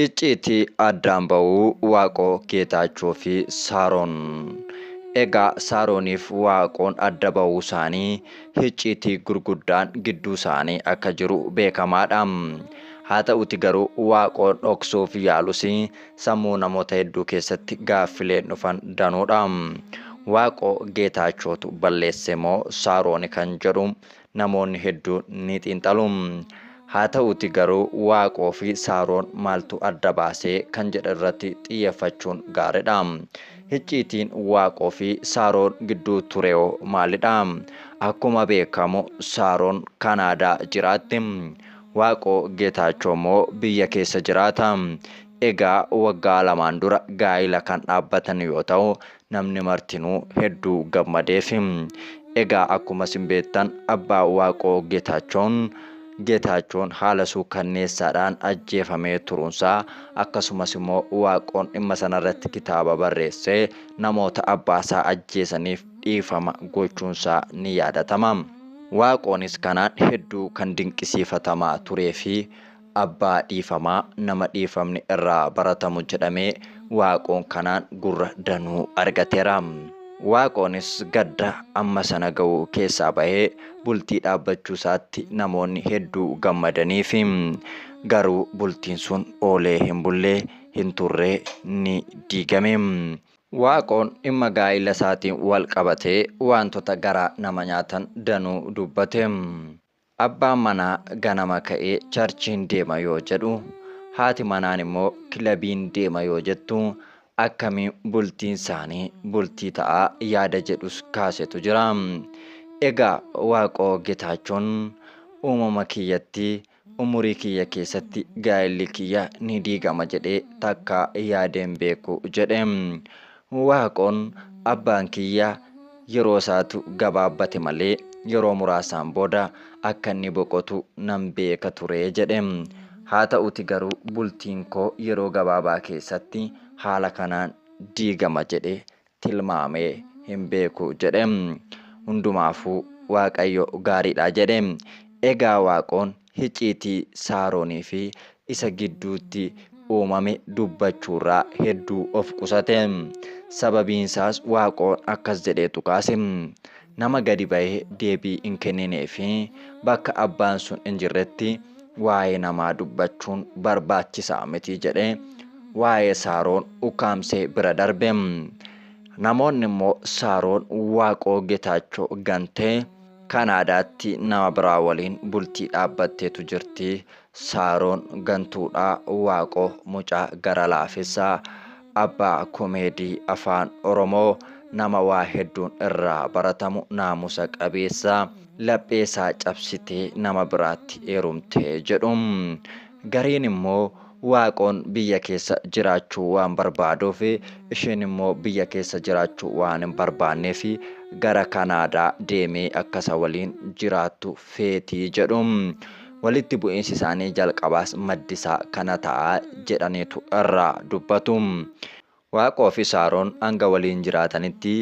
Icciitii addaan ba'uu Waaqoo Geetaachoo fi Saaroon. Egaa Saarooniif Waaqoon adda ba'uusaanii hicciitii gurguddaan gidduusaanii akka jiru beekamaadha. Haa ta'uti garuu Waaqoon dhoksuuf yaalus sammuu namoota hedduu keessatti gaaffileen dhufan danuudha. Waaqoo Geetaachootu balleesse moo Saarooni kan jedhu namoonni hedduun ni xiinxalu. Haa ta'uuti garuu Waaqoo fi Saaroon maaltu adda baasee kan jedhe irratti xiyyeeffachuun gaaridha. Hicciitiin Waaqoo fi Saaroon gidduu tureo maalidha? Akkuma beekamu Saaroon Kanaadaa jiraatti. Waaqoo Geetaachoo immoo biyya keessa jiraata. Egaa waggaa lamaan dura gaa'ila kan dhaabbatan yoo ta'u, namni martinuu hedduu gammadeef. Egaa akkuma isin beektan abbaa Waaqoo Geetaachoon Geetaachoon haala suukanneessaadhaan ajjeefamee turuunsaa akkasumas immoo Waaqoon dhimma sanarratti kitaaba barreessee namoota abbaasaa ajjeesaniif dhiifama gochuunsaa ni yaadatama. Waaqoonis kanaan hedduu kan dinqisiifatamaa turee fi Abbaa dhiifamaa nama dhiifamni irraa baratamu jedhamee Waaqoon kanaan gurra danuu argateera. Waaqoonis gadda amma sana ga'u keessaa bahee bultii dhaabbachuu isaatti namoonni hedduu gammadaniifi. Garuu bultiin sun oolee hin bulle, hin turre ni diigame. Waaqoon dhimma gaa'ila isaatiin wal qabatee waantota garaa nama nyaatan danuu dubbate. Abbaan manaa ganama ka'ee charchiin deema yoo jedhu, haati manaan immoo kilabiin deema yoo jettu akkamiin bultiin isaanii bultii ta'a yaada jedhus kaasetu jira. Egaa Waaqoo Getaachoon uumama kiyyatti umurii kiyya keessatti gaa'illi kiyya ni diigama jedhee takkaa yaadeen beeku jedhe. Waaqoon abbaan kiyya yeroosaatu gabaabbate malee yeroo muraasaan booda akka inni boqotu nan beeka ture jedhe. Haata'uti garuu bultiin koo yeroo gabaabaa keessatti haala kanaan diigama jedhee tilmaamee hin beeku jedhe. Hundumaafuu Waaqayyo gaariidha jedhe. Egaa Waaqoon hicciitii Saaronii fi isa gidduutti uumame dubbachuurraa hedduu of qusate. Sababiinsaas Waaqoon akkas jedheetu kaase, Nama gadi ba'ee deebii hin kenninee fi bakka abbaan sun hin jirretti waa'ee namaa dubbachuun barbaachisaa miti jedhee waa'ee Saaroon ukkaamsee bira darbe. Namoonni immoo Saaroon Waaqoo Getaachoo gantee Kanaadaatti nama biraa waliin bultii dhaabbatteetu jirti. Saaroon gantuudha. Waaqoo mucaa gara laafessa. Abbaa komeedii Afaan Oromoo. Nama waa hedduun irraa baratamu, naamusa qabeessa. Lapheesaa cabsitee nama biraatti heerumte jedhu. Gariin immoo Waaqoon biyya keessa jiraachuu waan barbaaduuf, isheen immoo biyya keessa jiraachuu waan hin barbaanneef gara Kanaadaa deemee akka isa waliin jiraattu feeti jedhu. Walitti bu'iinsi isaanii jalqabaas maddi isaa kana ta'a jedhaniitu irraa dubbatu. Waaqoo fi Saaroon hanga waliin jiraatanitti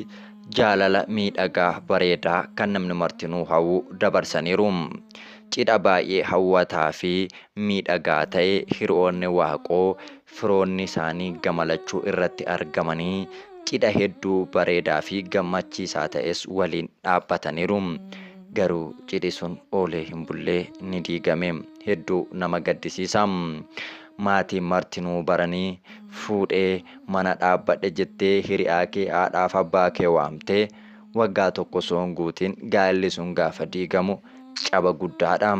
jaalala miidhagaa, bareedaa kan namni martinuu hawwu dabarsaniiru. Cidha baay'ee hawwataa fi miidhagaa ta'e hiriyoonni Waaqoo, firoonni isaanii gama lachuu irratti argamanii cidha hedduu bareedaa fi gammachiisaa ta'es waliin dhaabbataniiru. Garuu cidhi sun oolee hin bullee ni diigame. Hedduu nama gaddisiisa. Maatiin martinuu baranii fuudhee mana dhaabbadhe jettee hiriyaa kee haadhaaf abbaa kee waamtee waggaa tokko osoo hin guutiin gaa'illi sun gaafa diigamu caba guddaadha.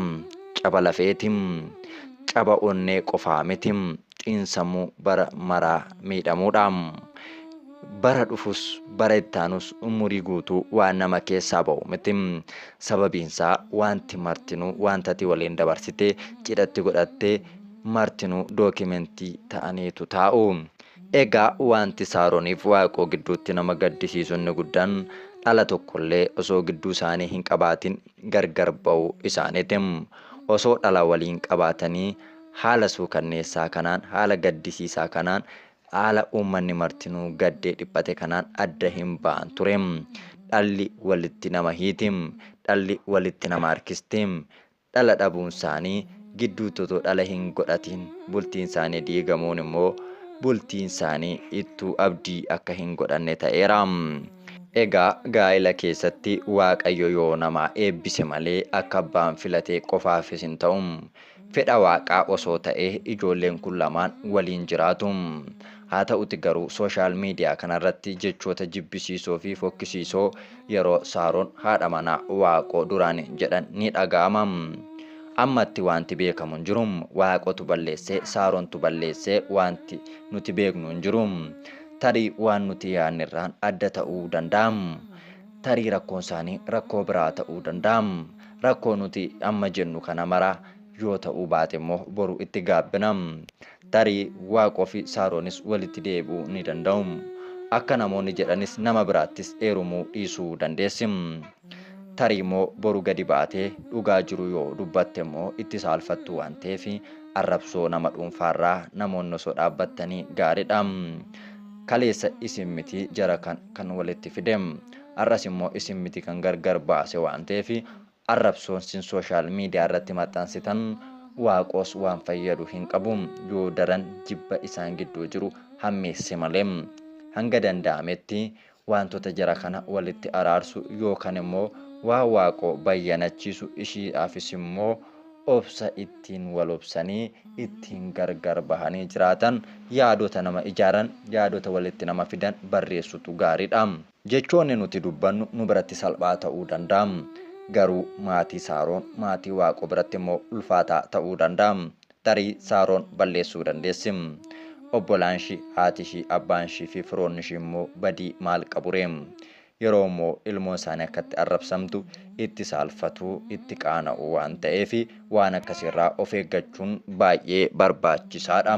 Caba lafeeti. Caba onnee qofaa miti. Xiinsammuu bara maraa miidhamuudha. Bara dhufus bara itti aanus umurii guutuu waan nama keessaa ba'u miti. Sababiinsaa waanti martinuu waanta ati waliin dabarsite cidhatti godhatte martinuu dookimentii ta'aniitu taa'u. Egaa waanti Saaroniif Waaqoo gidduutti nama gaddisiisu inni guddaan dhala tokkollee osoo gidduu isaanii hin qabaatin gargar ba'uu isaaniiti. Osoo dhala waliin qabaatanii haala suukanneessaa kanaan, haala gaddisiisaa kanaan, haala uummanni martinuu gaddee dhiphate kanaan adda hin ba'an ture. Dhalli walitti nama hiiti. Dhalli walitti nama harkisti. Dhala dhabuunsaanii, gidduutti otoo dhala hin godhatiin bultiinsaanii diigamuun immoo bultiinsaanii ittuu abdii akka hin godhanne ta'eera. Egaa gaa'ila keessatti Waaqayyo yoo nama eebbise malee akka abbaan filate qofaafis hin ta'u. Fedha Waaqaa osoo ta'ee ijoolleen kun lamaan waliin jiraatu. Haa ta'uti garuu social media kanarratti jechoota jibbisiisoofi fokkisiisoo Yeroo Saaroon haadha manaa Waaqoo duraanii jedhan ni dhaga'ama. Ammatti waanti beekamu hin jiru. Waaqootu balleesse, Saaroontu balleesse waanti nuti beeknu hin jiru. Tarii waan nuti yaadne irraan adda ta'uu danda'a. Tarii rakkoon isaanii rakkoo biraa ta'uu danda'a. Rakkoo nuti amma jennu kana mara yoo ta'uu baate immoo boru itti gaabbina. Tarii Waaqoofi Saaroonis walitti deebi'uu ni danda'u. Akka namoonni jedhanis nama biraattis heerumuu dhiisuu dandeessi. Tariimmoo boru gadi baatee dhugaa jiru yoo dubbattemmoo itti saalfattu waan ta'eef arrabsoo nama dhuunfaarraa namoonni osoo dhaabbattanii gaariidha. Kaleessa isin miti jara kan walitti fide. Har'as immoo isin miti kan gargar baase waan ta'eef Arrabsoon sin social media irratti maxxansitan Waaqos waan fayyadu hin qabu yoo daran jibba isaan gidduu jiru hammeesse malee. Hanga danda'ametti waantota jara kana walitti araarsu yookan immoo waan Waaqo bayyanachiisu ishiidhaafis immoo obsa ittiin wal obsanii ittiin gargar bahanii jiraatan yaadota nama ijaaran yaadota walitti nama fidan barreessutu gaaridha. Jechoonni nuti dubbannu nu biratti salphaa ta'uu danda'a. Garuu maatii Saaroon, maatii Waaqoo biratti immoo ulfaataa ta'uu danda'a. Tarii Saaroon balleessuu dandeessi. Obbolaanshii, haatishii, abbaanshii fi firoonnishii immoo badii maal qaburee? Yeroo immoo ilmoonsaanii akkatti arrabsamtu itti saalfatu, itti qaana'u waan ta'eef Waan akkasii irraa of eeggachuun baay'ee barbaachisaadha.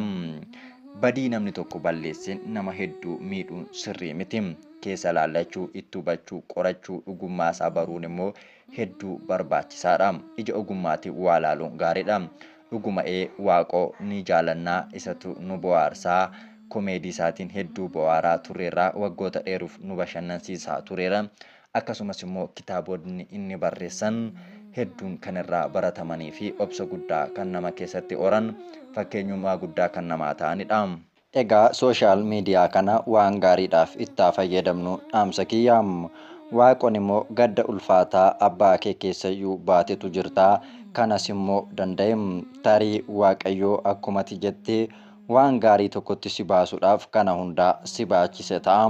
Badii namni tokko balleesse nama hedduu miidhuun sirrii miti. Keessa laallachuu, itti hubachuu, qorachuu, dhugummaa isaa baruun immoo hedduu barbaachisaadha. Ija ogummaatiin waa laaluun gaariidha. Dhuguma ee Waaqoo ni jaalanna, isatu nu bohaarsa. Komeedii isaatiin hedduu bohaaraa turreerra, waggoota dheeruuf nu bashannansiisaa tureera. Akkasumas immoo kitaabotni inni barreessan hedduun kan irraa baratamanii fi obsa guddaa kan nama keessatti horan, fakkeenyummaa guddaa kan namaa ta'ani dha. Egaa social media kana waan gaariidhaaf itti haa fayyadamnu dhaamsa kiyya. Waaqon immoo gadda ulfaataa abbaa kee keessa iyyuu baatetu jirta, kanas immoo danda'e. Tarii Waaqayyoo akkuma ati jette Waan gaarii tokkotti si baasuudhaaf kana hundaa si baachise ta'a.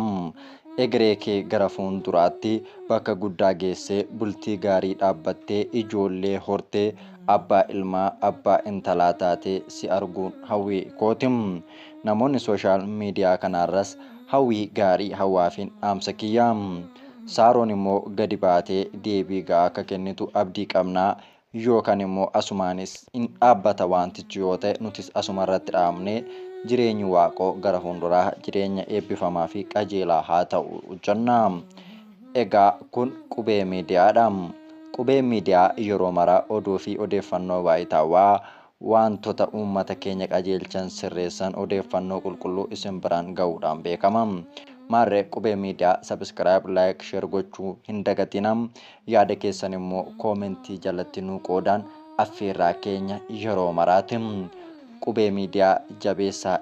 Egeree kee gara fuunduraatti bakka guddaa geessee bultii gaarii dhaabbattee ijoollee hortee abbaa ilmaa abbaa intalaa taatee si arguun hawwii kooti. Namoonni social media kanaarras hawwii gaarii hawaafiin dhaamsa kiyya. Saaroon immoo gadi baatee deebii ga'aa akka kennitu abdii qabna. Yookan immoo asumaanis in dhaabbata waantichi yoo ta'e nutis asuma irratti dhaabnee jireenyi Waaqoo gara fuunduraa jireenya eebbifamaa fi qajeelaa haa ta'u jenna. Egaa kun Qubee Miidiyaa dha. Qubeen Miidiyaa yeroo mara oduu fi odeeffannoo waayitaawaa waantota uummata keenya qajeelchan, sirreessan, odeeffannoo qulqulluu isin biraan gahuudhaan beekama. Maarree Qubee Media Subscribe, Like, Share gochuu hin dagatinaa. Yaada keessan immoo Comment jalatti nuu qoodaan affeerraa keenya yeroo maraati. Qubee Media jabeessaa.